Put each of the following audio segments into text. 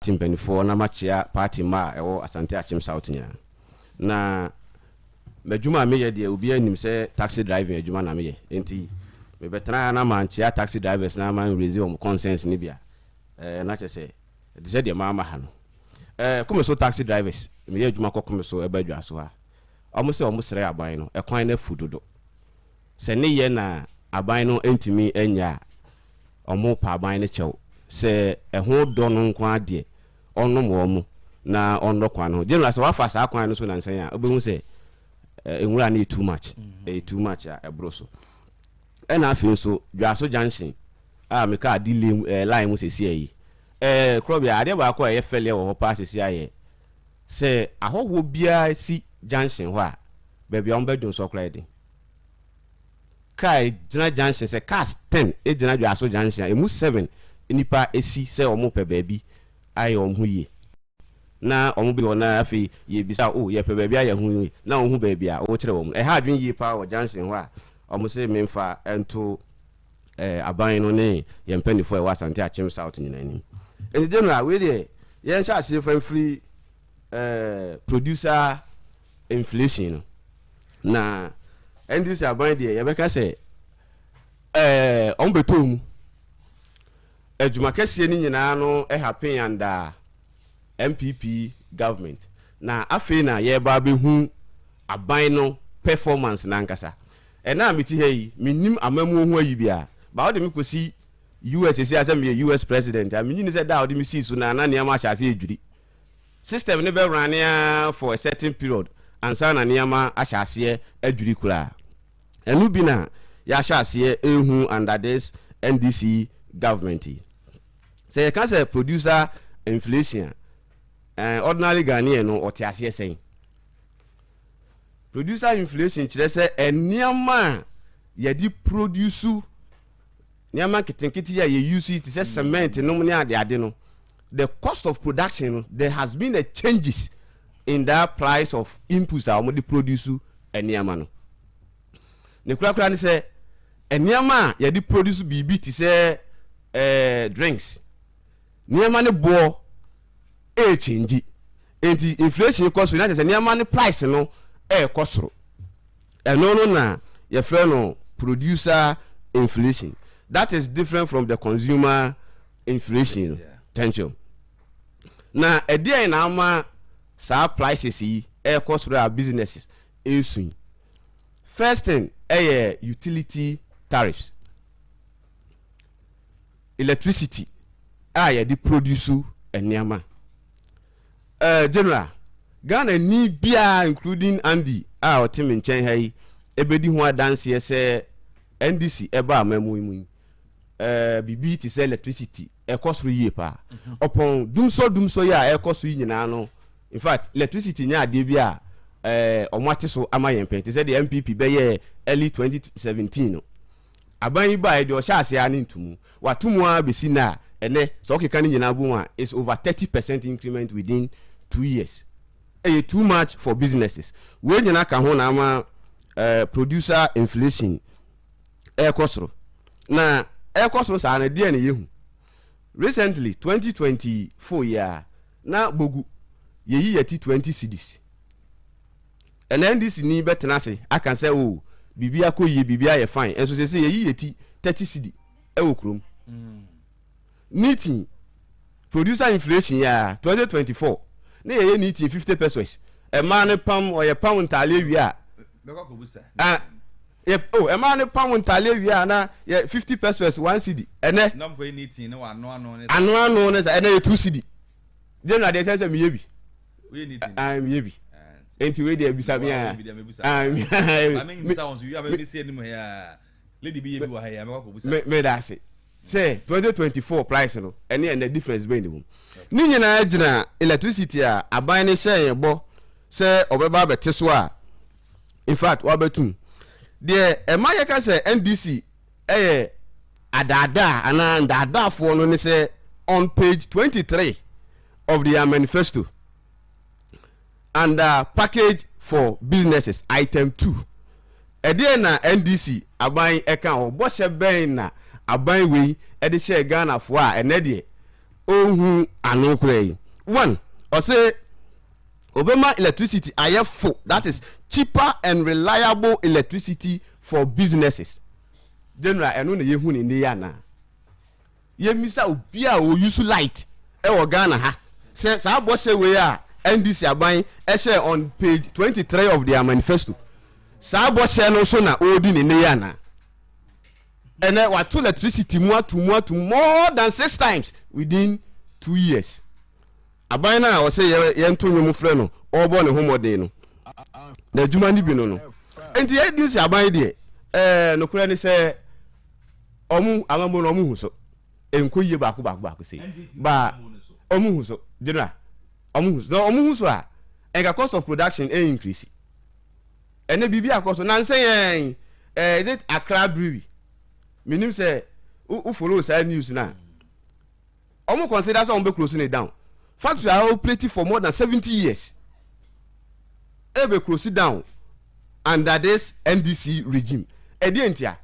party mpaninfoɔ na makyea party mma a ɛwɔ Asante Akyem South nyinaa. Na m'adwuma a meyɛ deɛ obiara nim sɛ taxi driving adwuma na meyɛ enti mebɛtena ha na mankyea taxi drivers na man raise wɔn concerns no bi a ɛɛ na kyerɛ sɛ ɛte sɛ deɛ mamma ha no. Ɛɛ Komeso taxi drivers meyɛ adwuma kɔ Komeso ɛba Adwaso ha wɔn sɛ wɔn srɛ aban no ɛkwan no afu dodo. Sɛ ne yɛ na aban no ntumi nyɛ a, wɔn pa aban no kyɛw. Sɛ ɛho dɔ no nko ara deɛ, ɔnnom wɔn na ɔnnɔ kwan no ho. General, sɛ woafa saa kwan no so nansa yi a, wobɛhu sɛ nwura no yɛ too much. Ɛyɛ too much a ɛboro so. Ɛna afei nso, Dwaso Junction a me kaa di lane, eh, line mu sɛsi ayi. Eh, Korɔbea, adeɛ baako a ɛyɛ fɛleɛ wɔ hɔ paa sɛsi ayɛ sɛ ahɔhoɔ biara si junction hɔ a, baabi a wɔbɛdwonsɔ koraa yɛ den. car gyina junction sɛ cars ten gyina dwaso junction a emu seven nnipa si sɛ wɔn pɛ baabi ayɛ wɔn ho yie na wɔn bɛ hɔ na afei yɛ bisa o oh, yɛ pɛ baabi ayɛ ho yie na wɔn ho baabi a wɔkyerɛ wɔn ɛha adwene yie paa wɔ junction hɔ a wɔn sɛ mmefa nto ɛɛ eh, aban no ne yɛn mpanyinfoɔ ɛwɔ asante akyem south nyinaa anim ɛdi general wei deɛ yɛn hyɛ aseɛ fa mfiri ɛɛ eh, producer inflation no. Na NDC aban deɛ yɛbɛka sɛ ɛɛ wɔn bɛtɔ mu. Adwuma kɛseɛ no nyinaa no ɛhapen yandaa NPP government. Na afei na yɛreba abɛhu aban no performance n'ankasa. Ɛna a mete ha yi, mennim amammuo ho ayi biara. Ba wode me kɔsi US ɛsi a sɛ meyɛ US president a, menyi ne sɛ da a wode me sii so na na nneɛma ahyɛ ase adwiri. System no bɛ runne ara for a certain period ansa na nneɛma ahyɛ aseɛ adwiri koraa. Ɛno bi na yɛahyɛ aseɛ rehu under this NDC government yi. Sɛ yɛka sɛ producer inflation a, ɛn ordinary Ghanaian no ɔte aseɛ sɛn? Producer inflation kyerɛ sɛ nneɛma a yɛde produce Nneɛma nketenkete yi a yɛ use yi te sɛ cement nom ne ade ade no, the cost of production no, there has been a changes in that price of inputs a wɔde produce nneɛma no. Ne korakora ne sɛ, nneɛma a yɛde produce biribi te sɛ eh, drinks, nneɛma ne boɔ ɛɛkyɛngyi. Enti inflation kɔ so, na kyerɛ sɛ nneɛma ne price no ɛɛkɔ soro. Ɛno no na yɛfrɛ no producer inflation that is different from the consumer inflation no. Thank you. Na ɛdeɛn na ama saa prices yi ɛrekɔ soro a businesses ɛresu yi? First thing ɛyɛ utility tariffs. Electricity a yɛde produce nneɛma. Eh General, Ghanani biara including Andy a ɔte me nkyɛn ha yi bɛdi ho adanseɛ sɛ NDC ɛbaa amamu yi mu yi, eh, biribi te sɛ electricity ɛkɔ soro yie paa. Mhm. Ɔpɔn dumsɔ dumsɔ yi a ɛkɔ so yi nyinaa no, in fact electricity nyɛ adeɛ bi a eh, ɔmo ate so ama yɛn pɛn te sɛ deɛ NPP bɛyɛɛ early 2017 no. Aban yi bae de ɔhyɛɛ ase ara ne ntomu. Wɔato mu ara besi nnɛ a, ɛnnɛ, sɛ wokeka ne nyinaa bom a, it's over thirty percent increment within two years. Ɛyɛ too much for businesses. Wei nyinaa ka ho na ama eh, producer inflation ɛrekɔ soro. Na ɛrekɔ soro saa no, deɛ na yɛhu? Recently, twenty twenty four yi ara, na bogu, yɛyi yɛti twenty cedis. Ɛnɛ NDC ni bɛtena ase aka sɛ oh biribi akɔ yie, biribi ayɛ fine, nso seesei yɛyi yɛ ti thirty cedi wɔ kurom. Nitin producer inflation yi ara, twenty twenty four na yɛyɛ nitin fifty pesos, mmaa no pam, wɔyɛ pam ntaaleɛ wie a, ah, yɛ, oh, mmaa no pam ntaaleɛ wie a na yɛ fifty pesos one cedi, ɛnɛ, ano ano ne sa, ɛnɛ yɛ two cedi. deɛ na deɛ kyɛ sɛ meyɛ bi ah, meyɛ bi nti wei deɛ bisa me a meda ase sɛ 2024 price no ɛne ɛnɛ difference bɛn ne mu ne nyinaa gyina electricity a aban no hyɛ yɛn bɔ sɛ ɔbɛba abɛte so a in fact wabɛtum deɛ ɛma yɛka sɛ ndc yɛ adaadaa anaa ndaadaafoɔ no ne sɛ on page twenty three of their manifesto under package for businesses item two ɛdeɛn na NDC aban ɛka hɔ bɔhyɛ bɛn na aban wei ɛde hyɛɛ Ghanafoɔ a ɛnɛ deɛ ɔnhu ano koraa yi one ɔse Obema electricity ayɛ fo that is cheaper and reliable electricity for businesses General ɛno na yɛhu no nnɛ yi anaa? Yɛmmisa obi a ɔ use light wɔ Ghana ha sɛ saa bɔhyɛ wei a NDC aban hyɛɛ on page twenty three of their manifesto saa bɔhyɛ no so na ɔredi no nnɛ yi anaa? Ɛnɛ wato electricity mu ato mu ato mu more than six times within two years Aban no a ɔsɛ yɛnto nnwom frɛ no ɔrebɔ ne ho mmɔden no, n'adwuma no bi no no. Enti yɛyɛ din sɛ aban deɛ, ɛɛ nokorɛ ne sɛ wɔn amammuo no wɔn hu so. Ɛnkɔ yie baako baako baako sei. Ba wɔn hu so, general, wɔn hu so. Na wɔn hu so a, ɛnka cost of production ɛn increase. Ɛnɛ biribi akɔ so, na nsɛ yɛn, ɛɛ is it Accra Brewery? Menim sɛ, wo follow saa news no a. Ɔmo consider sɛ ɔmo bɛ close ne down. Factory a operate for more than seventy years ɛbɛ close down under this NDC regime. Ɛdeɛ ntia?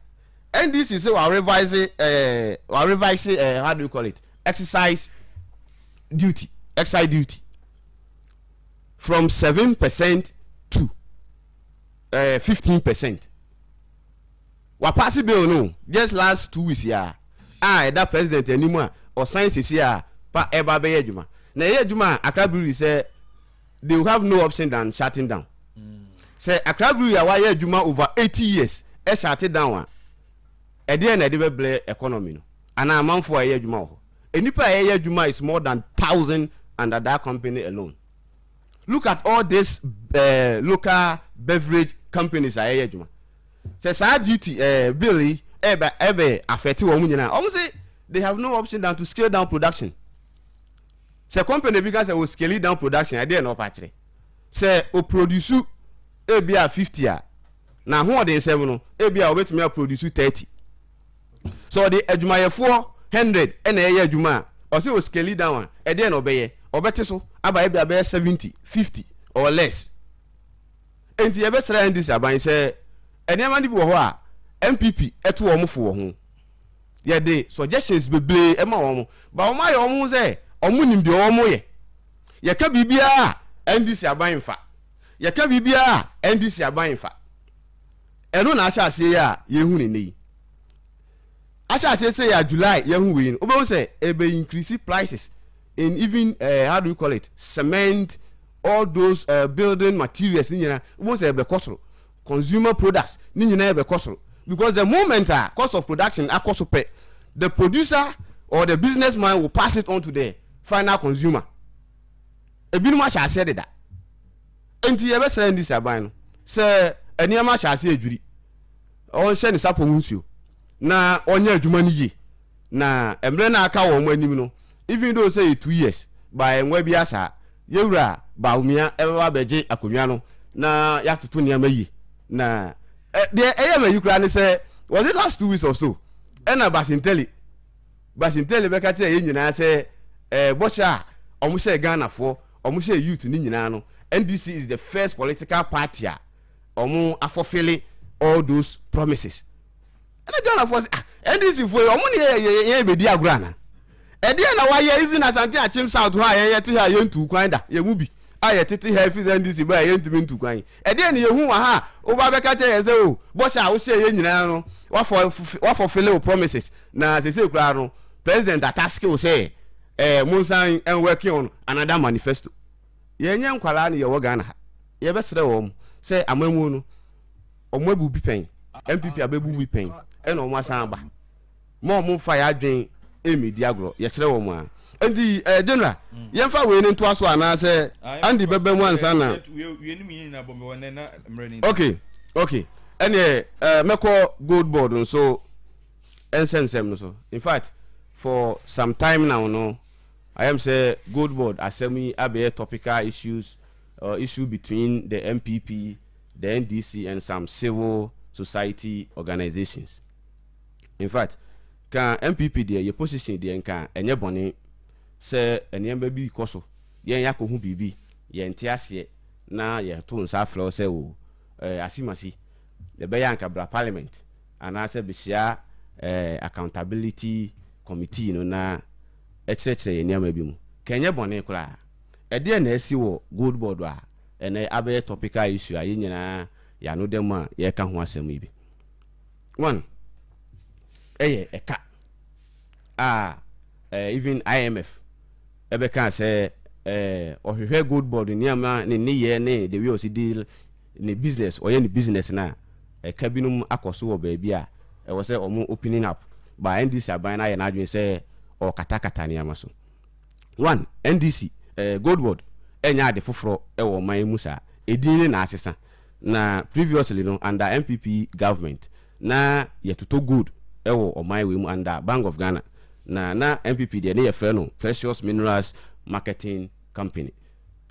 NDC sɛ wa revise ɛɛ eh, wa revise ɛɛ eh, how do you call it? Exercise duty, exercise duty from seven percent to eh, fifteen percent. Wa pass bill no just last two weeks yi ara a ɛda president anim a ɔsan sisi a pa ɛba abɛyɛ adwuma. Na ɛyɛ adwuma a Accra Brewery sɛ they will have no option than shutting down. Sɛ Accra Brewery a wayɛ adwuma over eighty years ɛshate down a ɛdeɛn na ɛde bɛbrɛ economy no anaa amanfoɔ a ɛyɛ adwuma wɔ hɔ. Nnipa a ɛyɛ adwuma is more than thousand under that company alone. look at all this eh, local beverage companies a ɛyɛ adwuma sɛ saa duty eh, bill yi ɛbɛ ɛbɛ afɛte wɔn nyinaa wɔn sɛ they have no option than to scale down production sɛ company bi ka sɛ o scale down production ɛdeɛ na ɔpa akyerɛ sɛ o produce ebi a fifty a na ahoɔden nsɛm no ebi a wɔbɛtumi a produce thirty Sɛ ɔde adwumayɛfoɔ hundred na ɛyɛ adwuma a, ɔse o scale down a, ɛdeɛ na ɔbɛyɛ? Ɔbɛte so aba ebi abɛyɛ seventy, fifty or less. Enti yɛbɛsrɛ NDC aban sɛ nneɛma no bi wɔ hɔ a NPP to wɔn fo wɔ ho. Yɛde suggestions bebree ɛma wɔn, ba wɔn ayɛ wɔn ho sɛ wɔn nim deɛ wɔn yɛ. Yɛka biribiara a NDC aban nfa. Yɛka biribiara a NDC aban nfa. Ɛno na ahyɛaseɛ yi a yɛhu no nnɛ yi. Ahyɛaseɛ sei a July yɛhu wei no, wobɛhu sɛ ɛbɛ increase prices in even uh, how do you call it cement all those uh, building materials ne nyinaa wobɛhu sɛ ɛbɛkɔ soro consumer products ne nyinaa ɛbɛkɔ soro because the moment a cost of production akɔ so pɛ the producer or the businessman will pass it on to the final consumer Ebinom ahyɛ aseɛ deda. Enti yɛbɛsrɛ NDC aban no sɛ nneɛma ahyɛ aseɛ adwiri, ɔnhyɛ ne sapɔ ho nsuo na ɔnyɛ adwuma no yie na mmerɛ no a aka wɔn anim no, even though sɛ yɛ two years but ɛnwa biara saa, Yɛwura Bawumia ɛbɛba abɛgye akonnwa no na yɛatoto nneɛma yie na deɛ ɛyɛ m'ayi koraa ne sɛ was it last two weeks or so ɛna Basintali Basintele bɛka kyerɛɛ yɛn nyinaa sɛ eh, bɔhyɛ a wɔn hyɛɛ Ghanafoɔ, wɔn hyɛɛ youth no nyinaa no, NDC is the first political party a wɔn afɔfele all those promises. Ɛna Ghanafoɔ sɛ, ah, NDC foɔ yi, wɔn ne yɛ yɛ yɛ bɛdi agorɔ ana? Ɛdeɛ na wɔayɛ even Asante Akyem South hɔ a yɛn yɛte ha a yɛntu kwan da, yɛn mu bi a yɛtete ha efi sɛ NDC baa yɛntumi ntu kwan yi. Ɛdeɛ na yɛhu wɔ ha a woba bɛka kyerɛ yɛn sɛ o, oh, bɔhyɛ a wohyɛɛ yɛn nyinaa no, wafɔ wafɔ fele o promises. Na sesei koraa no, President ataske wo sɛ eh, monsan nwɛke on another manifesto. Yɛnyɛ nkwadaa na yɛwɔ Ghana ha. Yɛbɛsrɛ wɔn sɛ amammuo no, wɔn abu bi pɛn, NPP abɛbu bi pɛn, ɛna wɔn asan aba. Ma wɔn mfa yɛn adwene mmɛdi agorɔ, yɛsrɛ wɔn a. Nti eh, General, yɛmfa wei no ntoa so anaasɛ Andy bɛba mu ansa na. Okay, okay. Ɛneɛ eh, mɛkɔ gold board nso. Nsɛmnsɛm no so. In fact for some time now no ayɛm sɛ gold board asɛm yi abɛyɛ topical issues or issue between the NPP, the NDC and some civil society organisations. In fact ka NPP deɛ yɛ position deɛ nka ɛnyɛ bɔne sɛ nneɛma bi kɔ so yɛn yɛakɔ ho biribi yɛnte aseɛ na yɛto nsa afrɛ wo sɛ o eh, asimasi ɛbɛyɛ anka bra parliament Anaasɛ behyia ɛɛ accountability committee no na ɛkyerɛkyerɛ yɛn nneɛma bi mu. Ka ɛnyɛ bɔne koraa. Ɛdeɛn na asi wɔ Gold Board a ɛnnɛ abɛyɛ topical issue a yɛn nyinaa yɛn ano da mu a yɛreka ho asɛm yi bi? One, ɛyɛ ɛka a ɛɛ even IMF ɛbɛkaa sɛ ɛɛ ɔhwehwɛ Gold Board nneɛma, ne nneyɛɛ ne the way ɔsi deal ne business, ɔyɛ ne business no a, ɛka binom akɔ so wɔ baabi a ɛwɔ sɛ wɔn opening up, but NDC aban no ayɛ n'adwene sɛ ɔrekatakata nneɛma so. One, NDC, eh, Goldboard nyɛ ade foforɔ wɔ ɔman yi mu saa, edin ne na asesa, na previously no under NPP government na yɛtotɔ gold wɔ ɔman wei mu under Bank of Ghana, na na NPP deɛ ne yɛfrɛ no Precious Minerals Marketing Company.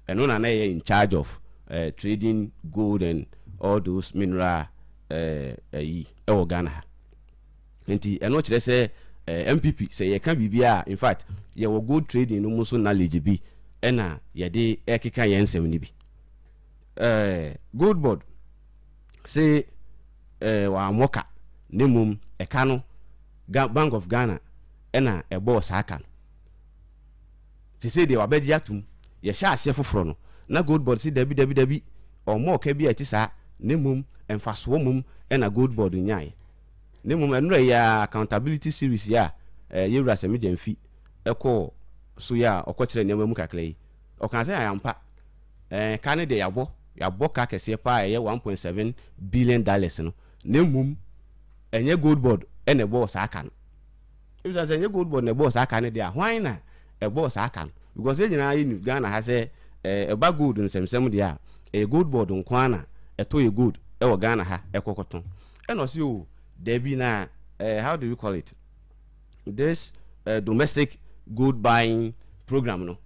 Ɛno na na ɛyɛ in charge of eh, trading gold and all those mineral eh, ayi ɛwɔ Ghana ha. Nti ɛno kyerɛ sɛ eh, MPP sɛ yɛka biribi a in fact yɛwɔ gold trading no mu nso knowledge bi ɛna yɛde ɛkeka yɛn nsɛm no bi. Eh, gold board se eh, wɔammɔ ka na mmom ɛka no Bank of Ghana ɛna ɛbɔɔ saa ka no. Sesei deɛ wabɛgye atom. Yɛhyɛɛ aseɛ foforɔ no, na Goldboard se dabi, dabi, dabi, ɔmmɔ ɔka bi a ɛte saa, na mmom mfasoɔ mmom na Goldboard nyaeɛ. Na mmom ɛnora yi ara Accountability Series yi a yɛn Wura Semi Gyamfi kɔɔ so yi a ɔkɔkyerɛɛ nneɛma mu kakra yi, ɔkaa sɛ ampa, eh, ka no deɛ yɛabɔ, yɛabɔ ka kɛseɛ pa ara a ɛyɛ one point seven billion dollars no, na mmom ɛnyɛ Goldboard na ɛbɔɔ saa ka no. Ebisa sɛ ɛnyɛ gold board na ɛbɔɔ saa ka no deɛ a, hwan na ɛbɔɔ saa ka no? Because yɛn nyinaa yɛ nim Ghana ha sɛ eh, ɛba gold nsɛmsɛm deɛ a, ɛyɛ gold board nko ara na ɛtɔ yɛ gold ɛwɔ Ghana ha ɛkɔ kɔtɔn. Ɛna ɔse oh, dabi na eh, how do we call it, this eh, domestic gold buying program no,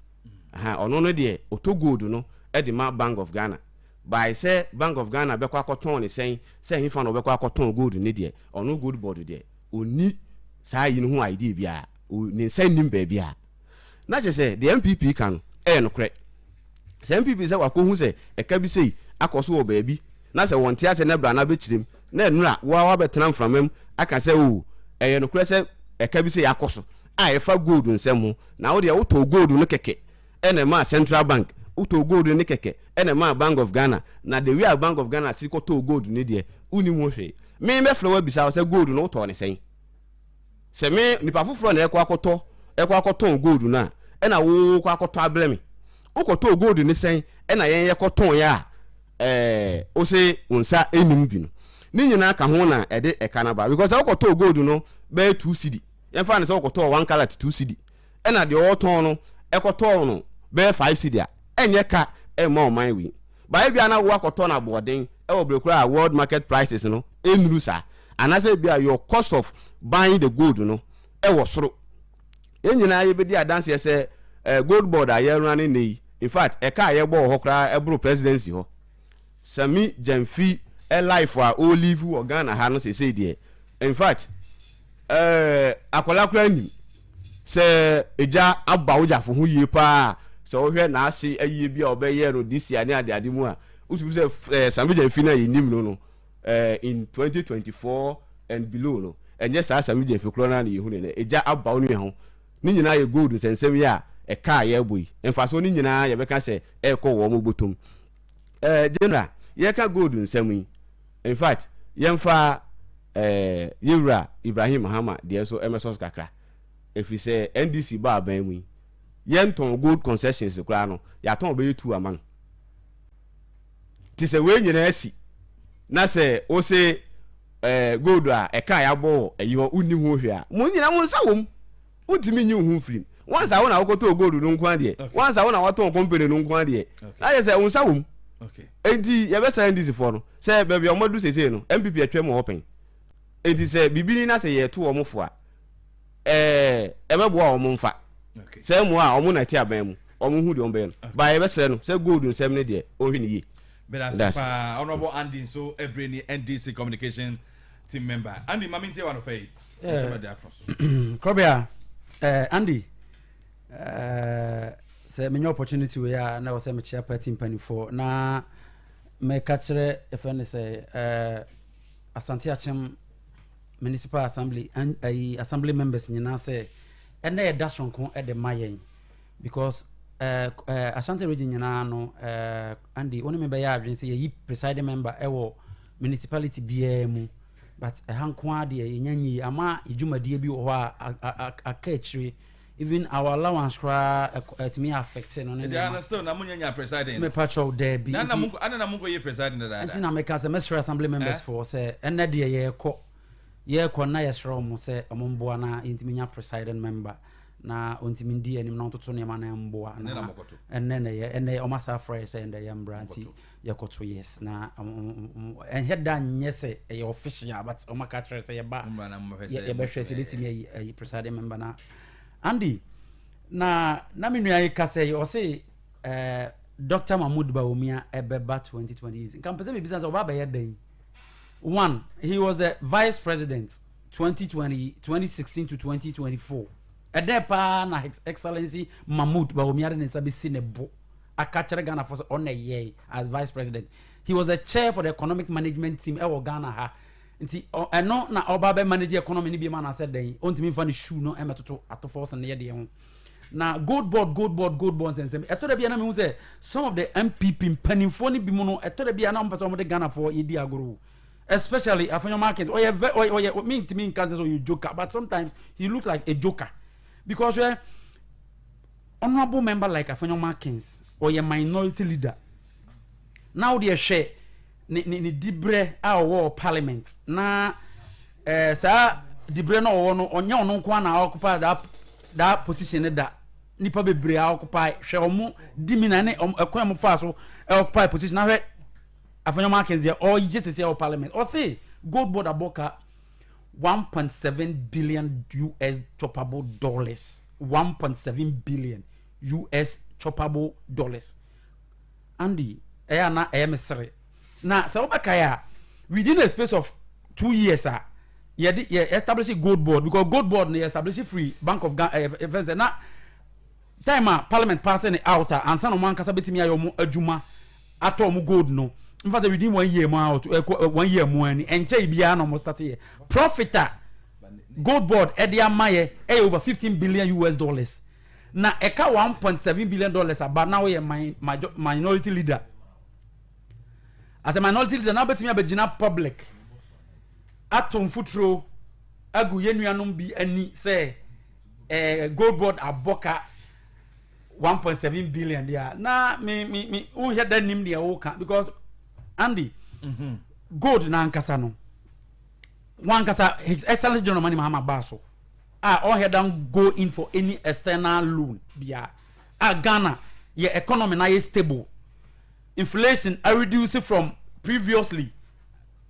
aha, ɔno no deɛ ɔtɔ gold no ɛde ma Bank of Ghana. By sɛ Bank of Ghana bɛkɔ akɔtɔn ne sɛn, sɛ hefa na ɔbɛkɔ akɔtɔn gold no deɛ, ɔno gold board deɛ, Onni saa ayi no ho idea biara, ne nsa nnim baabi a. Na kyerɛ sɛ deɛ NPP ka no yɛ nokorɛ. Sɛ NPP sɛ wɔakɔhu sɛ ɛka bi sei akɔ so wɔ baabi na sɛ wɔnte aseɛ na bra na bɛkyerɛ mu na ɛnnora wo ara woabɛtena mframa mu aka sɛ oo ɛyɛ nokorɛ sɛ ɛka bi sei akɔ so a ɛfa gold nsɛm ho na wo deɛ wotɔɔ gold no kɛkɛ Ɛna ɛmaa Central Bank tɔɔ gold no ne kɛkɛ, ɛna ɛmaa Bank of Ghana, na the way a Bank of Ghana siri kɔ tɔɔ gold no deɛ, wonim ho hwee. Me bɛfrɛ wo abisa wo sɛ gold no wotɔɔ no sɛn? Sɛ me, nipa foforɔ na ɛkɔ akɔtɔ, ɛkɔ akɔtɔn gold no a, ɛna wo kɔ akɔtɔ abrɛ me. Wokɔtɔɔ gold no sɛn ɛna yɛn yɛkɔ tɔn yɛ a, ɛɛ, wo se wo nsa nnim bi no. Ne nyinaa ka ho na ɛde ɛka no aba. Because sɛ wokɔtɔɔ gold no bɛyɛ two cedi, yɛmfa no sɛ wokɔtɔɔ one carat two cedi, ɛna deɛ ɔretɔn no ɛkɔtɔɔ no bɛyɛ five cedi a ɛnyɛ ka ɛmma ɔman wei but ebia na wo akɔtɔ no aboɔden ɛwɔ berɛ koraa a world market prices no ɛnnuru saa anaasɛ ebia your cost of buying the gold no ɛwɔ soro yɛn nyinaa yɛbɛdi adanseɛ sɛ eh, gold board a yɛruna ne nnɛ yi in fact ɛka a yɛbɔ wɔ hɔ koraa ɛboro presidency hɔ Sammy Gyamfi life a o live wɔ Ghana ha no sesei deɛ in fact eh akwadaa koraa nim sɛ egya aba wo gyafo ho yie paa sɛ wohwɛ n'ase ayie bi a ɔbɛyɛ no this year ne adeade mu a wosubu sɛ eh Sammy Gyamfi no a yɛnim no no eh in 2024 and below no ɛnyɛ saa Sammy Gyamfi korɔ no a na yɛhu ne nɛ egya aba wo nua ho ne nyinaa yɛ gold nsɛnsɛm yi a ɛka a yɛrebɔ yi mfasoɔ ne nyinaa yɛbɛka sɛ ɛrekɔ wɔn botom Eh General yɛka gold nsɛm yi infact yɛmfa eh yɛwura Ibrahim Mahama deɛ so ɛmɛsɔ so kakra ɛfiri sɛ NDC bɔ aban mu yi yɛntɔn gold concessions koraa no yɛatɔn bɛyɛ tu ama no nti sɛ wei nyinaa asi na sɛ wo se eh gold a ɛka yɛabɔ wɔ ayi hɔ wonni ho hwɛ a mo nyina mo nsa wɔ mu Wontumi nyi wo ho mfiri mu. Once a wo na wokɔtɔɔ gold no nko ara deɛ, once a wo na woatɔn company no nko ara deɛ, na kyerɛ sɛ wo nsa wɔ mu. Enti yɛbɛsrɛ NDC foɔ no, sɛ baabi a wɔadu seesei no, NPP atwam wɔ hɔ pɛn. Enti sɛ biribi ni na sɛ yɛreto wɔn fo a, ɛɛ, ɛbɛboa wɔn mfa. Sɛ mmoa a, wɔn na ɛte aban mu, wɔn hu deɛ wɔbɛyɛ no. But yɛbɛsrɛ no sɛ gold nsɛm no deɛ, ɔnhwɛ no yie. Medase paa, Honourable Andy nso ɛbere ni NDC communication team member andy ma mentie wa nɔpɛ yi ɛsɛ bɛde akɔ so kɔbea eh, andy eh, sɛ menya opportunity wei a na ɛwɔ sɛ mekyea party mpanimfoɔ na meka kyerɛ ɛfɛ ne sɛ eh, asante akyem municipal assembly an- ayi, assembly members nyinaa sɛ ɛnɛ ɛda soronko de ma yɛn Because eh eh Ashanti region nyinaa no eh Andy wo ne me bɛyɛ adwene sɛ yɛyi presiding member ɛwɔ municipality biara mu but ɛha nko ara deɛ yɛnya nyi ama yɛ dwumadie bi wɔ hɔ a aka akyire even our allowance koraa ɛtumi affect no ne nneɛma. Ɛdi ano still na mo nyɛ nya presiding no. Mepa kyɛw daabi. Na na mo ana na mo nkɔ yɛ presiding dadaada. Ɛnti na meka sɛ mɛsrɛ assembly members foɔ sɛ ɛnɛ deɛ yɛkɔ yɛkɔ na yɛsrɛ wɔn sɛ wɔn mboa na yɛntumi nya presiding member. Na ɔntumi ndi anim na ɔntoto nneɛma no mboa. Ɛnɛ na wɔkɔto. Ɛnɛ nnɛyɛ ɛnɛ wɔn asan afrɛ yɛ sɛ nnɛyɛ mbra nti yɛkɔto yes na ɛnhɛ da nyɛ sɛ ɛyɛ official but wɔn aka kyerɛ sɛ yɛba yɛbɛhwɛ sɛ ebetumi ayi ayi presiding member na Andy na na me nua yi ka sɛ ɔse ɛɛ Dr. Mahmoud Bawumia ɛbɛba 2020 nka mpɛ sɛ mebisa sɛ ɔba abɛyɛ dɛn one he was the vice president. Twenty twenty, twenty sixteen to twenty twenty four ɛdɛ paa na his excellency mahmood bawumia de ne nsa bɛsi ne bo aka kyerɛ ghanafoɔ sɛ ɔna ɛyɛe as vice president he was the chair for the economic management team ɛwɔ ghana ha nti ɛno na ɔba bɛ manage economy no bi ma na sɛ dɛn ɔntumi nfa ne shoe no ɛmɛtoto atofɔ sɛ ne yɛ deɛ ho na gold board gold board gold board nsɛnsɛm ɛtɔ da bi a na mehu sɛ some of the mpp mpanimfoɔ no bi mu no ɛtɔ da bi a na wɔpɛ sɛ wɔde ghanafoɔ yɛdi agorɔ Especially Afenyo Market, ɔyɛ vɛ ɔyɛ ɔyɛ mi ntumi nka sɛ ɔyɛ joker but sometimes he look like a joker because ɛ eh, honourable member like Afenyo Markins ɔyɛ minority leader na ɔde ɛhwɛ ne ne ne dibrɛ a ɔwɔ parliament na ɛɛ eh, saa dibrɛ na ɔwɔ no ɔnyɛ ɔno nko na ɔkupa that that position ne da nipa bebree a ɔkupa hwɛ ɔmo di mi na ne ɛkwan mu fa so ɛkupa position na hwɛ. Afei Nneɛma Akins deɛ ɔyɛ sese wɔ parliament ɔse gold board abɔ ka 1.7 billion US choppable dollars 1.7 billion US choppable dollars Andy ɛyɛ ana ɛyɛ me sere na sɛ wobɛkae a within the space of two years a yɛde yɛ establish gold board because gold board no yɛ establish free bank of Ghana ɛfɛn eh, eh, sɛ na Time a parliament paase ne out a ansa na wɔn ankasa betumi ayɛ wɔn adwuma atɔ wɔn gold no nfa sɛ within one year mu out ɛkɔ eh, one year mu ani ɛnkyɛ yi biara na wɔn start yɛ profit a gold board ɛde ama yɛ ɛyɛ over fifteen billion us dollars na ɛka one point seven billion dollars aba na wɔyɛ my minority leader as a minority leader na wɔbɛtumi abɛgyina public ato mfuturo agu yɛn nuanom bi ani sɛ. eh, gold board abɔ ka 1.7 billion deɛ a na me me me wohwɛ da nim deɛ woka because andy mm -hmm. gold n'ankasa no wankasa his excellence general mani mahama baa so a ɔhɛ dan go in for any external loan bia a ghana yɛ economy na yɛ stable Inflation areduce from previously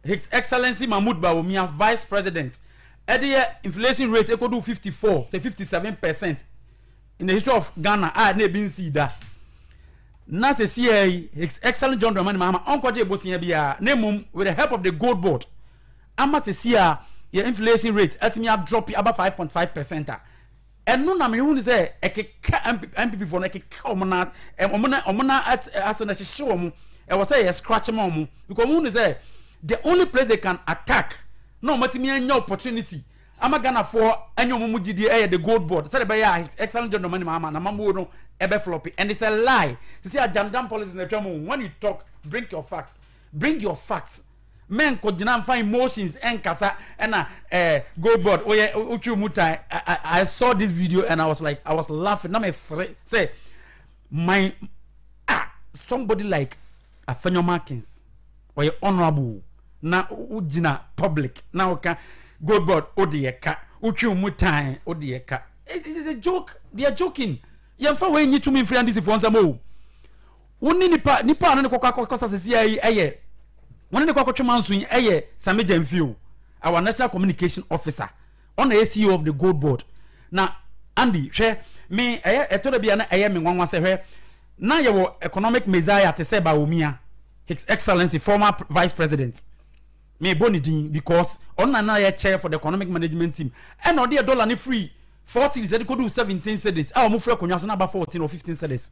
His Excellency Mahmoud Bawumia, Vice President, ɛde yɛ inflation rate ekodu 54 to 57 percent in the history of Ghana a na ebi nsii da. Na sisi yɛ yi, His Excellency John Dramani Mahama ɔnkɔgye ebosia biara na mmom with the help of the gold board ama sisi a yɛ inflation rate atumi adrɔpi aba 5.5 percent a Ɛno na mehu no sɛ ɛkeka NPP foɔ no ɛkeka wɔn na wɔn na wɔn na ase na ɛhyehye wɔn ɛwɔ sɛ yɛ scratch ma wɔn because wɔn hu no sɛ the only place they can attack na wɔn atumi anya opportunity ama Ghana foɔ anya wɔn mu gyidie ɛyɛ the gold board sɛde bɛyɛ a excellent John Dramani Mahama na mamuo no ɛbɛ floppy and it's a lie sisi ajandam politics na atwa mu when you talk bring your facts bring your facts. Mɛnkɔ gyina nfa emotions ɛnkasa ɛna ɛɛ go board oyɛ otwi mu tan I I saw this video and I was like I was laughing na mɛ sere sɛ my ah somebody like afɛnyɔma akins ɔyɛ honourable na o gyina public na o ka go board o de yɛ ka otwi mu tan o de yɛ ka it is a joke they are joking yɛn fa wei nyi tumi nfiri andisifoɔ nsɛm o. Wo ne nipa nipa a ne ne kɔkɔ akɔsa sisia yi ɛyɛ wɔn ne ne kɔ akɔtwe manso yi ɛyɛ Sami Gyamfio our national communication officer ɔna ɛyɛ CEO of the gold board na Andy hwɛ me ɛyɛ ɛtɔ da bi a na ɛyɛ me nwanwa sɛ hwɛ na yɛwɔ economic messiah te sɛ Bawumia his excellency former vice president me bɔ ne din because ɔna na yɛ chair for the economic management team ɛna ɔde yɛ dollar ne free four cities ɛde kɔdu seventeen cities a wɔn fura akonnwa so na aba fourteen or fifteen cities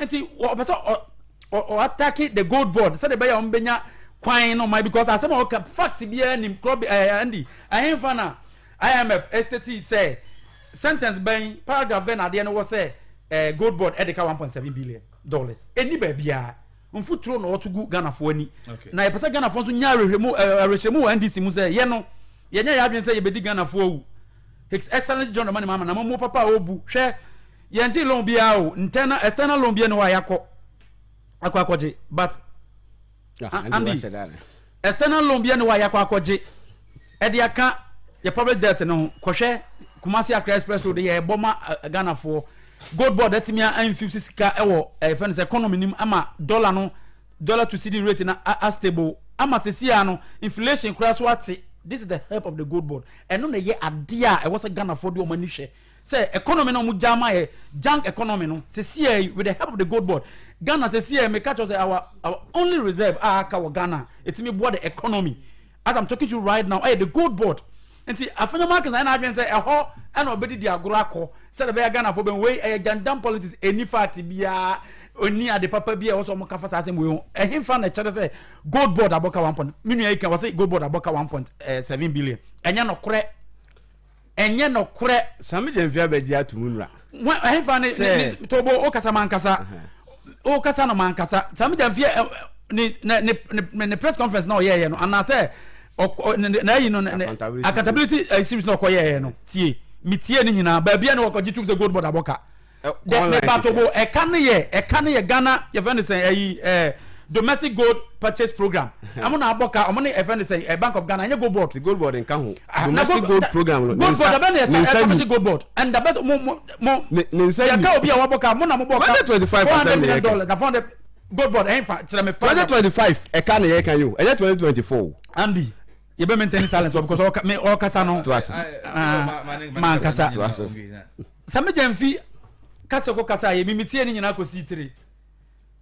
nti ɔpɛ sɛ ɔatake the gold board sɛdeɛ ɛbɛyɛ a wɔbɛnya kwan no ma because asɛm a ɔka fact biara nim korɔ bi ɛɛ andy ahemfa na imf ɛsitɛti sɛ sentence bɛn paragraph bɛn na adeɛ no wɔ sɛ ɛɛ gold board ɛde ka one point seven billion dollars ɛni baabiara mfuturo na ɔto gu ghanafoɔ ani na yɛpɛ sɛ ghanafoɔ nso nya awerɛhyɛmu awerɛhyɛmu wɔ ndc mu sɛ yɛ no yɛnyɛ yɛ adwene sɛ yɛbɛdi ghanafoɔ wu his excellence john dramani mahama na mamuo papa a ɔbu hwɛ Yɛngye loan biara o internal external loan biara ni hɔ a yakɔ akɔ akɔgye but ah, Andy external loan biara ni hɔ a yakɔ akɔgye ɛde aka yɛ public debt no ho kɔhwɛ Kumasi Accra express road yɛ ɛbɔ ma eh, Ghana foɔ gold board ɛtumi anfifisi sika ɛwɔ ɛfɛn eh, sɛ economy nim ama dollar no dollar to cedi rate na a stable ama sisi a no inflation koraa so ate this is the help of the gold board ɛno na ɛyɛ adeɛ a ɛwɔ sɛ Ghana foɔ de wɔn ani hwɛ. sɛ economy na ɔmo gya ma yɛ junk economy no sesiɛ yi with the help of the gold board Ghana sesiɛ meka kyerɛ sɛ our our only reserve a aka wɔ Ghana etimi boa the economy as I'm talking to you right now ɛyɛ the gold board nti afɛnyɛ markets ayɛ n'adwene sɛ ɛhɔ ɛna ɔbɛdi di agorɔ akɔ sɛdeɛ bɛyɛ Ghana fo bɛn wei ɛyɛ jandam politics ɛni fact biara ɛni ade papa bi a ɛwɔ sɛ ɔmo kafa saa asɛm wei ho ɛhenfa na ɛkyerɛ sɛ gold board abɔka one point me nua yi kan wɔ sɛ gold board abɔka one point eh, seven billion ɛnyɛ nɔkorɛ ɛnyɛ nɔkorɛ. sami gyɛnfi abɛgye ato mu nura. ɛhefa ne ne tobo o kasa ma nkasa o kasa no ma nkasa sami gyɛnfi ne ne ne ne press conference na ɔyɛɛyɛ no anaasɛ ɔkɔ ne na ayi no ne accountability eh, series na ɔkɔyɛɛyɛ no tie mi tie ne nyinaa baabi a ne wɔkɔgye tum sɛ gold board abɔka. Dɛ me patobo ɛka no yɛ ɛka no yɛ Ghana yɛfɛ no sɛn ɛyi ɛɛ domestic gold purchase program ɛmo na abɔ ka ɔmo ne ɛfɛ no sɛn ɛ bank of Ghana ɛnyɛ gold board. ti gold board nka ho ah, domestic gold program no gold board abɛ na ɛsɛ ɛsɛ gold board ɛnda bɛ mo mo mo yɛ ka obi a wabɔ ka mo na mo bɔ ka four hundred million dollars na four hundred gold board ɛnfa kyerɛ mi. twenty twenty five ɛka na yɛ ka yi o ɛyɛ twenty twenty four. Andy. yɛ bɛ maintain silence wɔ because ɔka me ɔkasa no mankasa sɛ megya mfi kasa ko kasa yɛ mimi tie ne nyinaa kɔ sii tire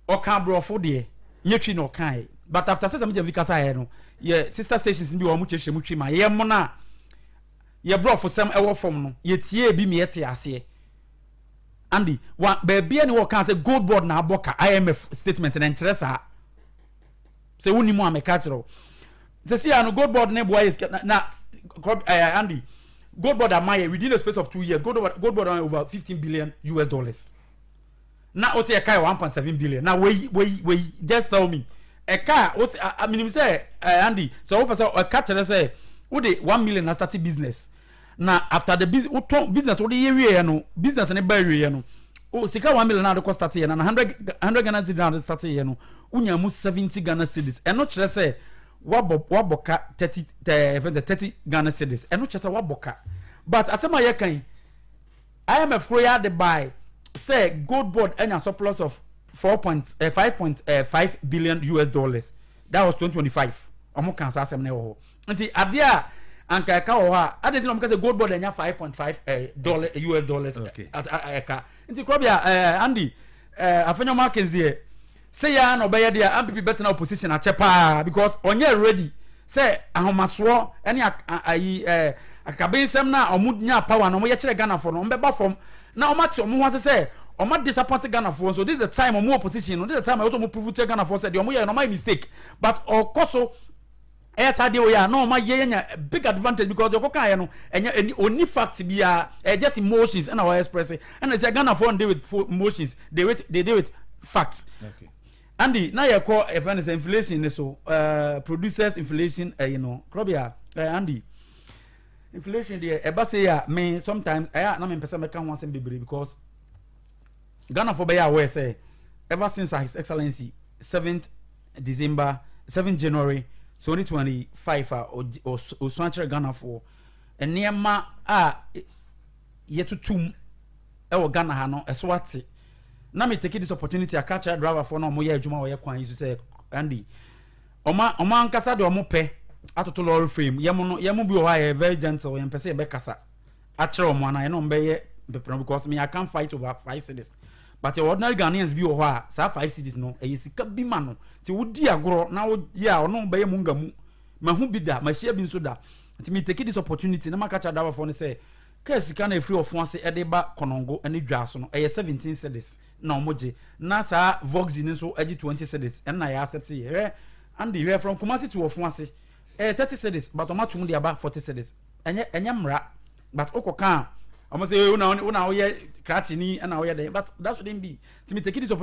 ɔka aborɔfo deɛ nyɛ twi na ɔkaeɛ but after sɛ sɛ megya mfi kasa yɛ no yɛ sister stations bi wɔ wɔn kyerɛkyerɛ mu twi ma yɛ mo no a yɛ borɔfo sɛm ɛwɔ fam no yɛ tie bi mi yɛ te aseɛ andy wa baabi a ne wɔka sɛ gold board na abɔ ka imf statement na nkyerɛ saa Sɛ wo nim a me ka kyerɛ wo. Sɛ si ano gold board ne boa yɛ sika na na kɔ ɛɛ eh, Andy gold board ama yɛ within the space of two years gold board gold board ama over fifteen billion US dollars. Na o sɛ ɛka yɛ one point seven billion na wei wei wei just tell me ɛka o sɛ a minim sɛ ɛɛ eh, Andy sɛ o pɛ sɛ ɛka kyerɛ sɛ o de one million na start business. na after the business wotɔn business wode yɛ wie yɛ no business ne ba wie yɛ no o sika one million a de kɔ start yɛ na na hundred hundred ghana cedis na de start yɛ no wonya mu seventy ghana cedis ɛno kyerɛ sɛ wabɔ wabɔ ka thirty ɛɛ fɛn sɛ thirty ghana cedis ɛno kyerɛ sɛ wabɔ ka but asɛm a yɛ kan imf koro yɛ ade baae sɛ gold board anya surplus of four point eh, five point eh, five billion us dollars that was twenty twenty five wɔn kan saa asɛm na ɛwɔ hɔ. nti adeɛ a anka ɛka wɔ hɔ a adeɛ nti na wɔn kasa gold board ɛnya five point five eh, dollar eh, us dollars ɛka eh, nti kura bi a andy afɛnyɛ wɔn akenzi yɛ sɛ yɛ na ɔbɛyɛ deɛ ampp bɛtena opposition akyɛ paa because ɔnyɛ ready sɛ ahomasoɔ ɛne ayi ɛɛ akabensɛm na wɔn nya power na wɔn yɛ kyerɛ ghana fo no wɔn bɛba fam na wɔn ate wɔn ho ase sɛ wɔn a disappoint ghanafoɔ nso this is the time wɔn opposition no this is the time wɔn prove kyerɛ ghanafoɔ sɛ deɛ wɔn yɛ no wɔn ayɛ mistake but ɔkɔ so Ɛyɛ saa deɛ ɔyɛ a na ɔma yɛn anya big advantage because deɛ ɔkɔkaeɛ no ɛnyɛ ɛni ɔni fact biara ɛyɛ just emotions ɛna ɔyɛ express ɛna sɛ Ghanafoɔ n deal with fo- emotions they with they deal with facts Okay. Andy na yɛkɔ ɛfɛ no sɛ inflation ne so uh, producers inflation ɛyi no korɔbea eh, Andy inflation deɛ ɛba sɛ yɛ a me sometimes ɛyɛ a na mempɛ sɛ mɛka ho asɛm bebree because Ghanafoɔ bɛyɛ aware sɛ ever since a His Excellency seventh December seventh January twenty twenty five a ɔsua akyerɛ Ghanafoɔ nneɛma a yɛtoto mu wɔ Ghana ha no ɛso ate na me take this opportunity aka akyerɛ driverfoɔ na wɔyɛ adwuma wɔyɛ kwan yi so sɛ Andy ɔma ɔma ankasa deɛ wɔn pɛ atoto lorry frame yɛn mo no yɛn mo bi wɔ hɔ a yɛ very gentle yɛn pɛ sɛ yɛbɛkasa akyerɛ wɔn anaa ɛna wɔn bɛyɛ mpepere because me I can fight over five cities but ordinary Ghanaians bi wɔ hɔ a saa five cities no ɛyɛ sika bi ma no ti wodi agorɔ na woyɛ a ɔno bɛyɛ mu nga mu ma ho bi da ma hyia bi nso da nti me take this opportunity na ma kakyɛ adawafoɔ no sɛ kaa sika na efiri ɔfon ase ɛde ba kɔnɔngo ɛne dwa so no ɛyɛ seventeen cities na wɔn gye na saa voxy no nso ɛgye twenty cities ɛna yɛ accept yɛ hwɛ andi hwɛ from kumasi to ɔfon ase ɛyɛ thirty cities but wɔn atum de aba forty cities. ɛnyɛ ɛnyɛ mmara but wokɔ kaa wɔn sɛ wo na wo na woyɛ krakye ni ɛna woyɛ dɛ but that shouldn't be timi take this opportunity.